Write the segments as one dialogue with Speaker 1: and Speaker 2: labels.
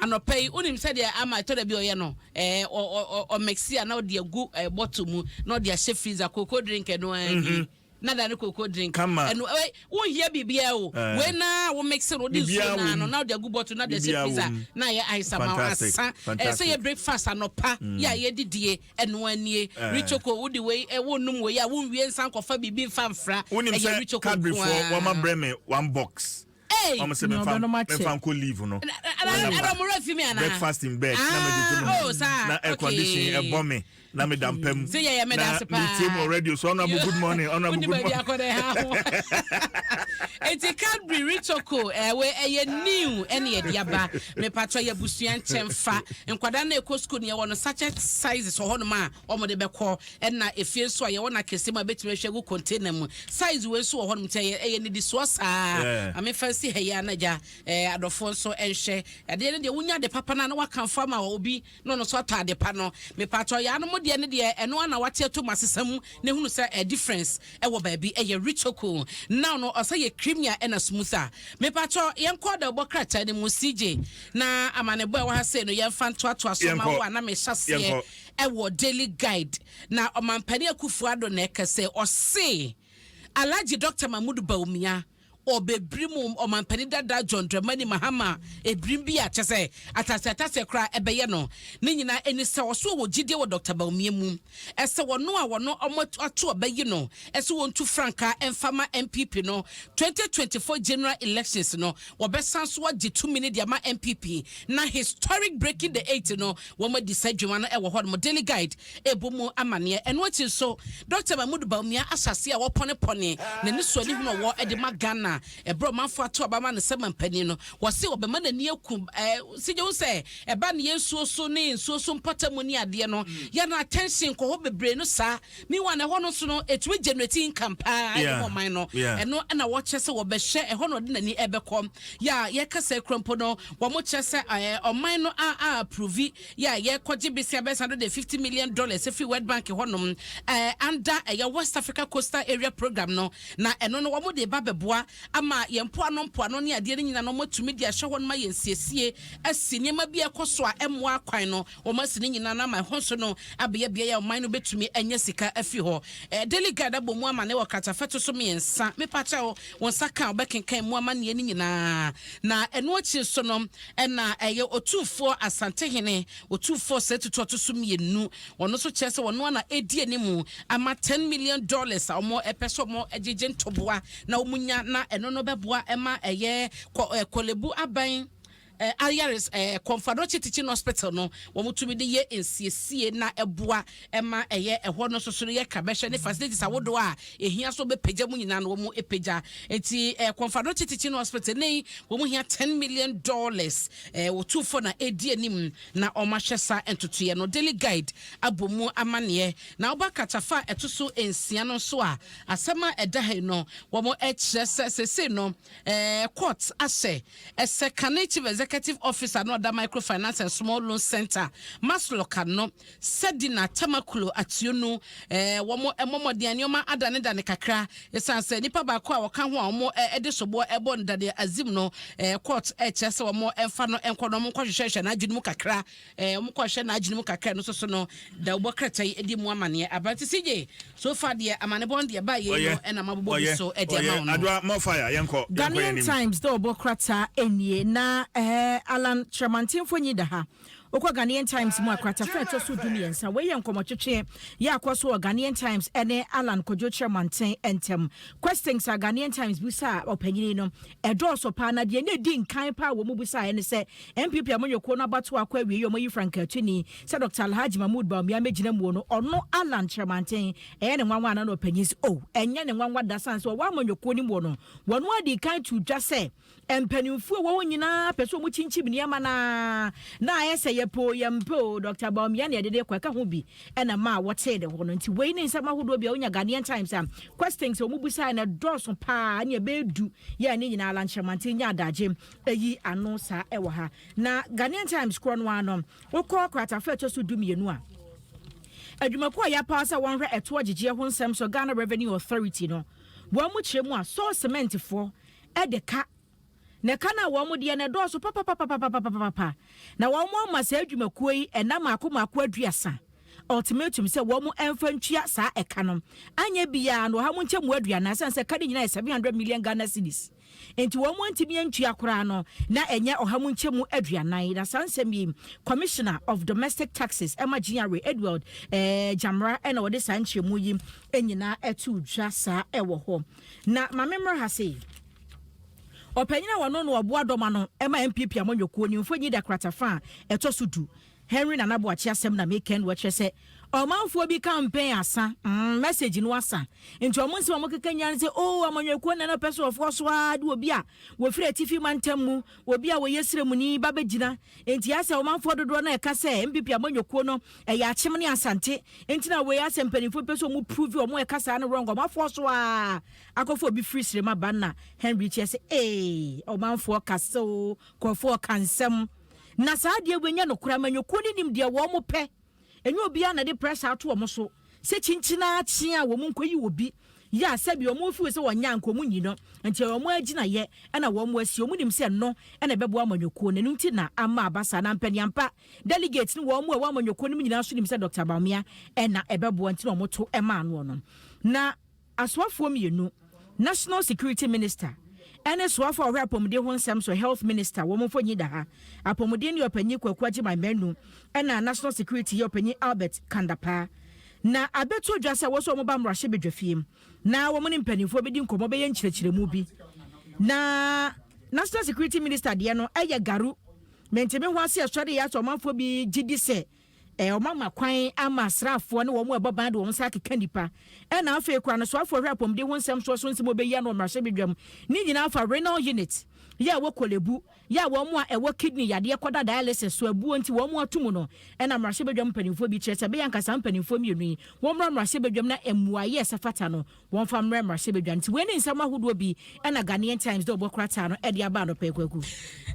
Speaker 1: Anɔpa yi, wonim sɛdeɛ ama ɛtɔ da bi ɔyɛ no? Ɛɛ, ɔ, ɔ, ɔ, ɔmɛksi a na ɔde agu ɛɛ bɔto mu na ɔde ahyɛ freezer. Cocoa drink ɛno ara ni. Mhm. Na da ne cocoa drink. Kama. Ɛno, ɛɛ,
Speaker 2: wonhia
Speaker 1: biribiara o. Ɛɛ. Wei no ara a womɛksi no, wode nsuo Biribiara no wɔ ara mu. no na wode agu bɔto no na wode ahyɛ Biribiara wɔ freezer mu. na ayɛ ice ama wo. Fantastic, Asa, ɛɛ, sɛ fantastic. yɛ breakfast anɔpa Mm. yɛ a yɛdidie, ɛno ara nie. Ɛɛ. Ricoco, wode wei, ɛ, wonnom wei a, wonwie nsan nkɔfa biribi mfa mfra. Wonim Ɛyɛ sɛ Ricoco nko Cadburyfoɔ ara. wɔabrɛ me one box. Hey! Wɔn sɛ Nea ɔdɔ no ma kyɛ. mɛfa nkɔ leave no. Ɛna- ɛna- Wɔ ɛna- napa. ɛna ɔmo werɛ fi me anaa? Breakfast in bed. Ah, Na mede to mu. oh, saa, Na air okay. condition ɛbɔ me. Na meda mpa mu. Sɛ yɛyɛ meda ase Na paa. metie mu wɔ radio so. Honorable, You- good morning. Honorable, Wonni good baabi morning. akɔda ɛha ho. Enti Cadbury Ritoco, eh, wei, ɛyɛ new ɛne ɛde aba. Mepatwa yɛ abusua nkyɛn fa. Nkwadaa no a ɛkɔ school no, yɛwɔ no sachet sizes wɔ hɔnom a wɔde bɛkɔ. Ɛna efie nso a yɛwɔ no akɛseɛ mu a bɛtumi ahwɛ agu container mu. Size wei nso wɔ hɔnom nti ɛyɛ ɛyɛ nnidisoɔ saa. Yeah. Maame fa nsi ha yi a na gya eh, adɔfoɔ nso nhwɛ. Adeɛ no deɛ wonya ade papa no a na wakamfo ama obi na ɔno nso atɔ ade pa no. Mepaatɔ yaa no mo deɛ no deɛ ɛno ara na wate ato mu asesa mu na ehunu sɛ eh, difference ɛwɔ baabi ɛyɛ richoko. Now no ɔsɛ yɛ creamier ɛna smooth a. Mepaatɔ yɛnkɔ da ɔbɔ krataa no mu CJ na amanebɔ a ɛwɔ ha sei no yɛmfa ntoatoa so ma Yɛnkɔ. wo a na mehyɛ aseɛ Yɛnkɔ. Ɛwɔ Daily Guide na Ɔmanpanin Akuffo Addo na ɛka sɛ ɔse Alhaji Doctor Mahmood Bawumia ɔbɛbirim Ɔmanpanin dada John Dramani Mahama ɛbirim bi a kyɛsɛ ataseɛ ataseɛ koraa ɛbɛyɛ no. Ne nyinaa ɛni sɛ ɔse ɔwɔ gyidie wɔ Doctor Bawumia mu ɛsɛ wɔno a wɔno ɔmo ato ɔbɛyi no ɛsɛ wɔntu frankaa ɛmfa ma NPP no 2024 General Elections no wɔbɛsan nso agye tumi no de ama npp na historic breaking the eight no wɔn adi saa adwuma no wɔ hɔnom daily guide ɛbɔ mu amaneɛ ɛno akyi nso dr mahmood baumia ahyɛaseɛ a wɔpɔnepɔne na ne suani hunu ɔwɔ de ma ghana ɛberɛ ɔmanfoɔ ato aba ma no sɛ mampanin no wɔse wɔbɛma n'ani aku sigye wo sɛ ɛba ne yɛ nsuo so ne nsuo so mpɔtamu ne adeɛ no yɛn attention kɔ hɔ bebree no saa Meanwhile ɛhɔ no nso no ɛtumi generate income paa ɛde ma ɔman no. Ɛno na wɔkyerɛ sɛ wɔbɛhwɛ, ɛhɔ na ɔde n'ani ɛbɛkɔ. Yɛ a yɛka sɛ kura mpo no wɔkyerɛ sɛ ɔman no a a approve yɛ a yɛkɔgye besia bɛyɛ sɛ hundred and fifty million dollars firi World Bank hɔ nom under ɛyɛ West Africa Coastal Area Program no. Na ɛno no wɔde reba abɛboa ama yɛn mpoano mpoano ne adeɛ no nyinaa na wɔatumi de ahyɛ hɔ nom ayɛ nsiesie asi nneɛma bi a ɛkɔ so a ɛmmoa akwan no. Wɔasi ne nyinaa no ama ɛhɔ nso no abɛyɛ beae a ɔman no betumi anya sika afi hɔ. Daily Guide abɔ mu amanne wɔ kratafɛto so mmiɛnsa. Mepakyɛw, wo nsa ka a wobɛkenkan mu amanneɛ no nyinaa. Na ɛno akyi nso no, na ɛyɛ Otumfoɔ Asantehene Otumfoɔ Osei Tutu a ɔto so mmienu. Ɔno nso kyerɛ sɛ ɔno ara na edi anim ama ten million dollars a wɔpɛ sɛ wɔgyegye ntoboa na wɔnya, na ɛno no bɛboa ma ɛyɛ Korle Bu Aban. Eh, Ayares eh, Kɔmfadokye Teaching Hospital no, wɔtumi de yɛ nsiesie na ɛboa ma ɛyɛ ɛhɔ no soso no yɛ ka bɛhwɛ ne facilities ahodoɔ a ɛhia so bɛpagya mu nyinaa no wɔn pagya nti eh, Kɔmfadokye Teaching Hospital ne wɔn hia ten million dollars eh, wɔtu fɔ na ɛdi anim na wɔn ahwɛ saa ntotoeɛ no Daily Guide abɔ mu amaneɛ na wɔba katafa ɛto so nsia no nso a asɛm a ɛda ha yi no wɔn kyerɛ sɛ sese no Ɛɛ, court ahyɛ ɛsɛ kane Chief Executive Officer na ɔda Microfinance and Small Loans Centre, Masloca, no, Sadina Tamakulo Atuonu, ɛɛ, wɔn mmɔ mmɔden a nneɛma adanedane kakra esiane sɛ nipa baako a wɔka ho a wɔn de soboɔ rebɔ no Daniel Azim no, ɛɛ, court rekyerɛ sɛ wɔn mfa no nkɔ na wɔnkɔhwehwɛhwɛ n'adwene mu kakra. Eh, wɔn kɔhwɛ n'adwene mu kakra no soso no da wobɔ krata yi adi mu amaneɛ aberante CJ so fa deɛ amanebɔn deɛ baa yei no ɛna ma bobɔ bi so ɛde ama wo no adoa more fire yɛnkɔ
Speaker 2: Ghanaian Times dɛ
Speaker 3: ɔbɔ krataa anie na ɛɛ Allan Kyerɛmanten mfonyin da ha. Wokɔ Ghanaian Times mu a, kratafa a ɛtɔ so du mmiɛnsa. Wei yɛ nkɔmmɔtwetwe yɛ akɔ so wɔ Ghanaian Times ne Allan Kwadwo Kyerɛmanten ntam. Questings a Ghanaian Times busaa ɔpanyin no, ɛdɔɔso paa na deɛ na ɛdi nkan paa a wɔn busaeɛ ne sɛ, NPP amanyɔkuo no abatoɔ akɔ awiei yi wɔayi frankaatwini sɛ Dɔkta Alhaji Mahmood Bawumia mmɛgyina muo no ɔno Allan Kyerɛmanten ɛyɛ ne nwanwa anaa na ɔpanyin sɛ oh ɛnyɛ ne nwanwa da sane sɛ ɔwɔ amanyɔkuo no muo no wɔn ara dii kan too dwa sɛ mpanimfoɔ wɔ hɔ nyinaa pɛ sɛ wɔkyinkyim nneɛma no ara na ayɛ sɛ yɛpɛ o yɛmpɛ o Dɔkta Bawumia na yɛde no rekɔ ɛka ho bi ɛna maa wɔtee ne ho no nti wei ne nsɛm ahodoɔ bi a wonya Ghanaian Times a questions a wɔbusaeɛ no ɛdɔɔso paa ne ɛbɛyɛ du yɛɛ ne nyinaa Allan Kyerɛmanten nyaa adagye ayi ano saa ɛwɔ ha na Ghanaian Times korɔ no ara no wokɔ kratafa ɛtɔ so du mmienu a adwumakuo a yɛapaa sɛ wɔnhwɛ ɛtoɔ gyegyeɛ ho nsɛm so Ghana Revenue Authority no wɔn mu kyerɛ mu a sɔɔ sementfoɔ ɛde ka na ɛka no a wɔn deɛ no ɛdɔɔso papapapapapapapa na wɔn ama saa adwumakuo yi ɛna maako maako aduasa ultimatum sɛ wɔn ɛmfa ntua saa ɛka no anyɛ biara no ɔha mu nkyɛmu aduanan sɛn sɛ ɛka no nyinaa yɛ 700 million Ghana cedis Enti wɔn antumi antua koraa no na ɛnyɛ ɔha mu nkyɛmu aduanan. Na saa nsɛm yi, Commissioner of Domestic Taxes ɛma GRA, Edward eh, Gyamera ɛna ɔde saa nkyerɛmu yi nyinaa ɛto dwa saa ɛwɔ hɔ. Na ma memmra ha sei. Ɔpanyin a wɔno no ɔboa dɔma no ɛma MPP amanyɔkuo nimfo Nyi Dakrata fa a ɛtɔ so du Henry Nana Boakye asɛm na me kɛn wɔ kyerɛ sɛ ɔmanfoɔ bi campaign asa mm message no asa nti ɔmo nsɛm a ɔmo keka nyinaa ne sɛ oo amanyɔkuo nana pɛ sɛ ɔfoɔ so aa de obi a wɔfiri atifi mantam mu obi a wɔyɛ sremuni ba bɛ gyina nti asɛ ɔmanfoɔ dodoɔ no a ɛka sɛ npp amanyɔkuo no ɛyɛ akyem ne asante nti na wei asɛ mpanimfoɔ pɛ sɛ ɔmo prove ɔmo ɛka saa no wrong ɔmo afoɔ so aa akɔfo obi firi srema ba na Henry kyerɛ sɛ ee ɔmanfoɔ ka sɛ oo kɔfoɔ ka nsɛm Na saa deɛ wei nyɛ nokorɛ, amanyɔkuo no nim deɛ wɔn pɛ, ɛnyɛ obiara na ɛde pressure ato wɔn so sɛ kyinkyin ara kye a wɔn nkɔyi obi, yɛ a sɛbi wɔn feel sɛ wɔnyɛ a nka wɔn nyi no, nti ɛyɛ wɔn agyinayɛ na wɔn asi, wɔn nim sɛ ɛno na ɛbɛboa amanyɔkuo no, ɛno nti na ama aba saa, na mpaniampa delegates no wɔn a ɛwɔ amanyɔkuo no mu nyinaa nso nim sɛ Doctor Bawumia na ɛbɛboa nti na wɔto maa noɔ no, na. Asoafoɔ mmienu, National Security Minister ɛne soafo a ɔhwɛ apɔmuden ho nsɛm so, Health Minister, wɔn mfoni da ha. Apɔmuden yɛ ɔpanyin Kwaku Agyeman Manu ɛna National Security yɛ ɔpanyin Albert Kandapaa. Na abɛto dwa sɛ wɔsɛ wɔn ba mmarahyɛbedwafiem na wɔn ne mpanimfoɔ bɛdi nkɔmmɔ bɛyɛ nkyerɛkyerɛmu bi. Na National Security Minister deɛ no ɛyɛ garu. Mentimi ho aseɛ sɔre yɛ asɛ ɔmanfoɔ bi gyedi sɛ Ɛ, wɔama kwan ama asraafoɔ ne wɔn a ɛbɔ ban de wɔn nsa akeka nnipa. Ɛna afei koraa no, soafoɔ hwɛ apɔmuden ho nsɛm soɔ so nsɛm a wɔbɛyi ano wɔ mmarahyɛbedwam ne nyinaa fa renal unit yɛ a ɛwɔ Korle Bu yɛ a wɔn a ɛwɔ kidney yadeɛ kɔda dialysis so abuo nti wɔn ato mu no. Ɛna mmarahyɛbedwam mpanimfoɔ bi kyerɛ sɛ ɛbɛyɛ anka saa mpanimfoɔ mmienu yi wɔmmra mmarahyɛbedwam na mmuaeɛ a ɛsɛ fata no Wɔmfa mmrɛ mmarahyɛbadwa no. Nti wei ne nsɛm ahodoɔ bi na Ghanaian Times de ɔbɔ krataa no de aba anɔpa yi Kwaku.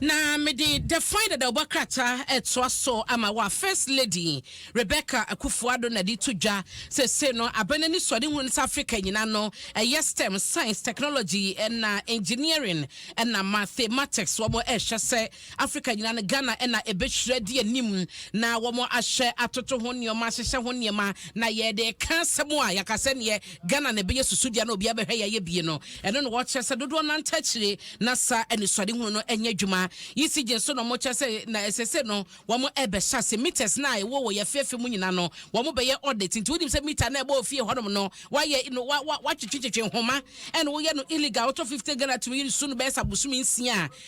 Speaker 3: Na mede
Speaker 1: The Fine Dada ɔbɔ krataa retoa so ama wo a First Lady Rebecca Akufo-Addo na de to dwa seesei no abɛn anisoadehu no sɛ Africa nyina no ɛyɛ stem, science, technology na engineering na mathematics wɔn ɛrehwɛ sɛ Africa nyinaa no, Ghana na ɛbɛhwiri adi anim na wɔahyɛ atoto ho nneɛma, ahyehyɛ ho nneɛma, na yɛde reka asɛm a, yɛaka sɛ neɛ Ghana na ɛbɛyɛ susudua na obiara bɛhwɛ yɛayɛ bie no, ɛno na wɔkyerɛ sɛ dodoɔ nante akyire na saa anisoadehunu no nyɛ adwuma. ECG nso na wɔkyerɛ sɛ na seesei no wɔrebɛhyɛ ase meters no a ɛwɔ wɔ yɛn afeafe mu nyinaa no, wɔbɛyɛ audit. Nti wonim sɛ meter no a ɛbɔ wɔ fie hɔnom no, wɔayɛ no, wɔatwetwetwetwe nhoma, ɛna woyɛ no illegal, wotɔ fifty Ghana tumi yi no su no bɛyɛ sɛ abosome nsia a,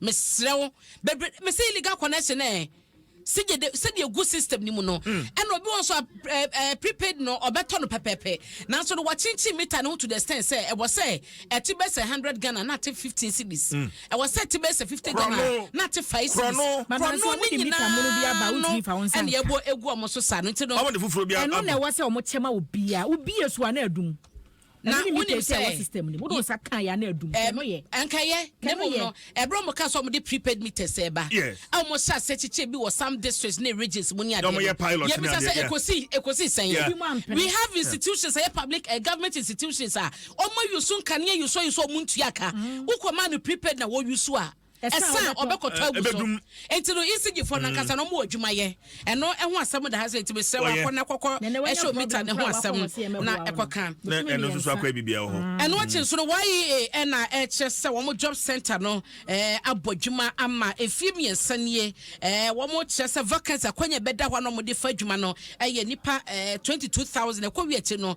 Speaker 1: Mesrɛ wo bebre mese illegal connection eh sigye de sɛdeɛ ɛgu system no mu no hmm. ɛna obi wɔn so eh, eh, prepaid no ɔbɛtɔ no pɛpɛpɛ nanso no wɔkyenkyen mita no ho to the extent sɛ ɛwɔ sɛ ɛte bɛ sɛ hundred ghana na ate fifteen cities hmm. ɛwɔ sɛ ɛte bɛ sɛ fifty ghana na ate five cities korɔno ne nyinaa no ɛna ɛbɔ egu wɔn so saa no nti no ɛno na ɛwɔ
Speaker 2: sɛ wɔn kyɛma
Speaker 3: obiara obiara so ana adum. na wonim sɛ ɛnkɛyɛ ne mmom no
Speaker 1: ɛberɛ ɔmo ka sɛ ɔmo de prepaid meters ɛba a ɔmo hyɛ ase kyekyɛ bi wɔ some districts ne regions mu ne adeɛ no yɛbisa sɛ ɛkɔsi ɛkɔsi sɛn we have institutions ɛyɛ public uh, government institutions a ɔmo ayusu nkanea yusu ayusu ɔmo ntua ka mm. wokɔ maa no prepaid na wɔyusu a ɛsan a ɔbɛkɔtɔ agu so nti no isigyifo no ankasa na ɔmo wɔ adwuma yɛ ɛno ɛho asɛm da ha sɛ nti mesrɛ wɔ akɔ na kɔkɔ ɛhyɛ omita ne ho asɛm na ɛkɔka ɛno nso so akɔ ebi
Speaker 2: bia wɔ hɔ mm. ɛno akyi nso no
Speaker 1: YEA ɛna ɛkyerɛ sɛ wɔn job center no ɛɛ abɔ adwuma ama efie mmiɛnsa nie ɛɛ wɔn kyerɛ sɛ vacancy akwanya bɛda hɔ a na wɔn de fa adwuma no ɛyɛ nipa ɛɛ twenty two thousand ɛkɔ wi akyi no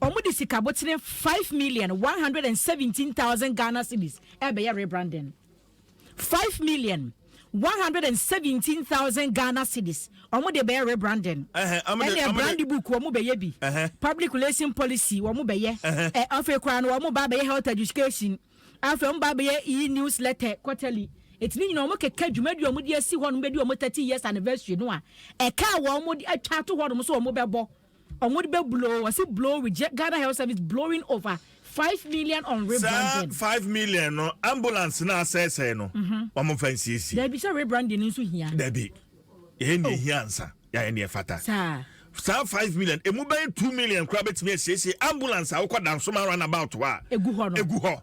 Speaker 3: Wɔde sika abotire five million one hundred and seventeen thousand Ghana cedis rebɛyɛ rebranding. Five million one hundred and seventeen thousand Ghana cedis wɔde bɛyɛ rebranding. Ɛnna brand book wɔbɛyɛ bi, public relation policy wɔbɛyɛ, ɛ afei koraa no wɔba abɛyɛ health education, afei wɔba abɛyɛ e-newsletter quarterly. Eti ne nyinaa wɔkeka dwumadi a wɔde asi hɔ no bɛdi wɔn thirty years anniversary no a ɛka a wɔde atwa ato hɔ nom so wɔbɛbɔ. Ɔmo de bɛ blow, wɔse blow reject, Ghana health service blowing over five million on rebranding. Saa five million no
Speaker 2: ambulance no asɛesɛe no wɔn mfa nsiesie. Dabi sɛ rebranding no
Speaker 3: nso hia. Dabi
Speaker 2: yɛyɛ nea ehia ansa yɛayɛ nea ɛfata. Saa. Saa
Speaker 3: five million
Speaker 2: emu bɛyɛ two million koraa betumi asiesie ambulance a wokɔ Dansoman round about hɔ a. Egu hɔ no. Egu hɔ.